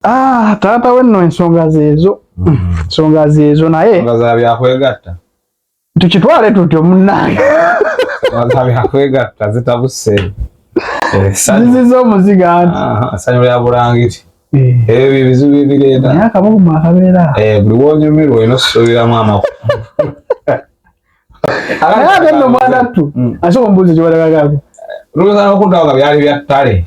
Ah, taata we nno ensonga zeezo mm. ensonga zeezo naye zabyakwegatta tukitwale tutyo munange zabyakwegatta zitabuse eh, ziziza omuziga anti ah, sanyu lya bulangiti eh. ebyo byebizibu ebireeta naye akabuguma akabeera eh, buli wonyumirwa olina osuubiramu amaku naye ate nno mwanattu mm. asobola omubuuzi kyobalagagako luluzana okuntawo nga byali bya ttale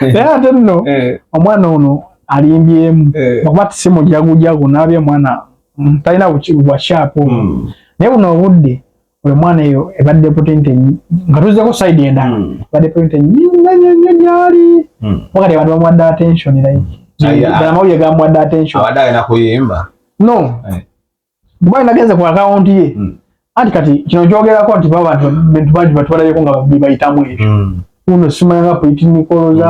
naye ate nno eh. omwana ono alimbyemu eh. okuba tisimujagujagu nabye omwana mm, talina bwakyapu hmm. naye buno obudde oyo mwana eyo ebadde potente nga tuzeko side endala hmm. ebadde potente nyonyonyo gyali hmm. wakati abantu bamuwadde attention like amawulire gamuwadde attention no eh. Dubai nagenze ku account ye. Mm. Anti kati kino kyogerako nti baba bantu bantu bangi batwalabeko nga babayitamu ebyo. Mm. Uno simanya nga political za